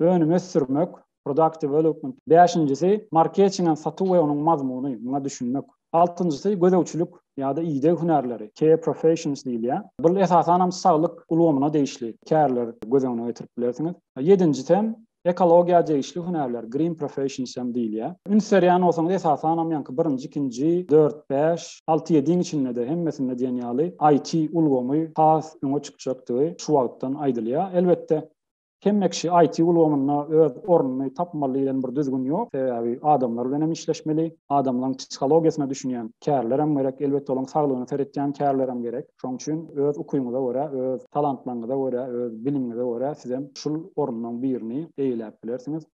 Önüm ösdürmek, Product development. Bäşinjisi, marketingan satuw we onuň mazmuny, muňa düşünmek. Altynjysy, gözegçilik ýa-da ideg hünärleri, care professions diýilýär. Bul esasanam saglyk ulgamyna degişli kärler göz öňüne getirip bilersiňiz. Ýedinjisem, ekologiýa degişli hünärler, green professions hem diýilýär. Üns berýän bolsaňyz esasanam ýaňky birinji, ikinji, dört, bäş, alty, ýediň içinde-de hemmesinde diýen ýaly IT ulgamy has öňe çykjakdygy şu wagtdan aýdylýar. Elbetde, Hemme kişi IT ulgamynda öz ornuny tapmaly diýlen bir düzgün ýok. Sebäbi adamlar bilen hem işleşmeli, adamlaryň psihologiýasyna düşünýän kärler hem gerek, elbetde olaryň saglygyna seretýän kärler hem gerek. Şonuň üçin öz ukyňyza görä, öz talantlaryňyza görä, öz bilimiňize görä sizem şul orunlaryň birini eýeläp bilersiňiz.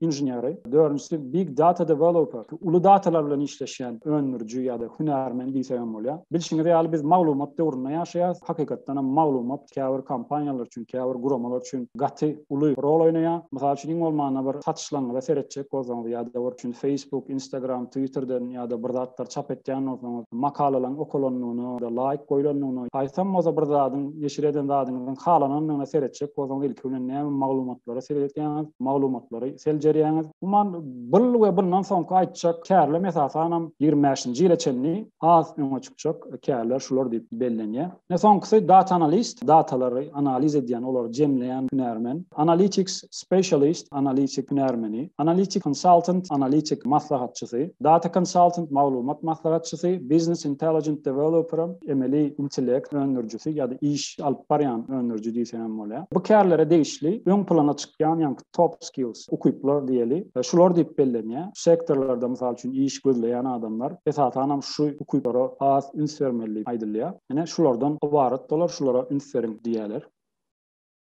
inženeri, dördünjisi big data developer, uly datalar bilen işleşýän öndüriji ýa-da hünärmen diýsek hem bolýar. Bilşiňiz ýaly biz maglumat döwründe ýaşaýarys. Hakykatdan hem maglumat käbir kompaniýalar üçin, käbir guramalar üçin gaty uly rol oýnaýar. Mysal üçin, iň bolmanda bir satyşlaryňyza seretjek bolsaňyz ýa-da bir üçin Facebook, Instagram, Twitterden ýa-da bir zatlar çap etýän bolsaňyz, makalalaryň okalandygyna ýa-da laýk goýlandygyna, haýsam bolsa bir zadyň, neşir eden zadyňyzyň halanandygyna seretjek bolsaňyz ilki bilen näme maglumat ýüzlendirmeleri seredýäňiz, maglumatlary seljerýäňiz. Umuman, bul we bundan soňky aýtjak kärlem esasanam ýigrimi bäşinji ýyla çenli has öňe çykjak kärler şular diýip bellenýär. Ine, soňkusy data analist, datalary analiz edýän, olary jemleýän hünärmen, analytics specialist, analitik hünärmeni, analytic consultant, analitik maslahatçysy, data consultant, maglumat maslahatçysy, business intelligent developer, emeli intellekt öndürijisi ýa-da iş alyp barýan öndüriji diýseň hem bolar. görkezilýär. Bu kärlere degişli öň plana çykýan ýaňky top skills, ukyplar diýeli, şular diýip bellenýär. Şu sektorlarda, mysal üçin, iş gözleýän adamlar, esasanam, şu ukyplara has üns bermeli diýip aýdylýar. Ine, şulardan ybarat olar, şulara üns beriň diýýärler.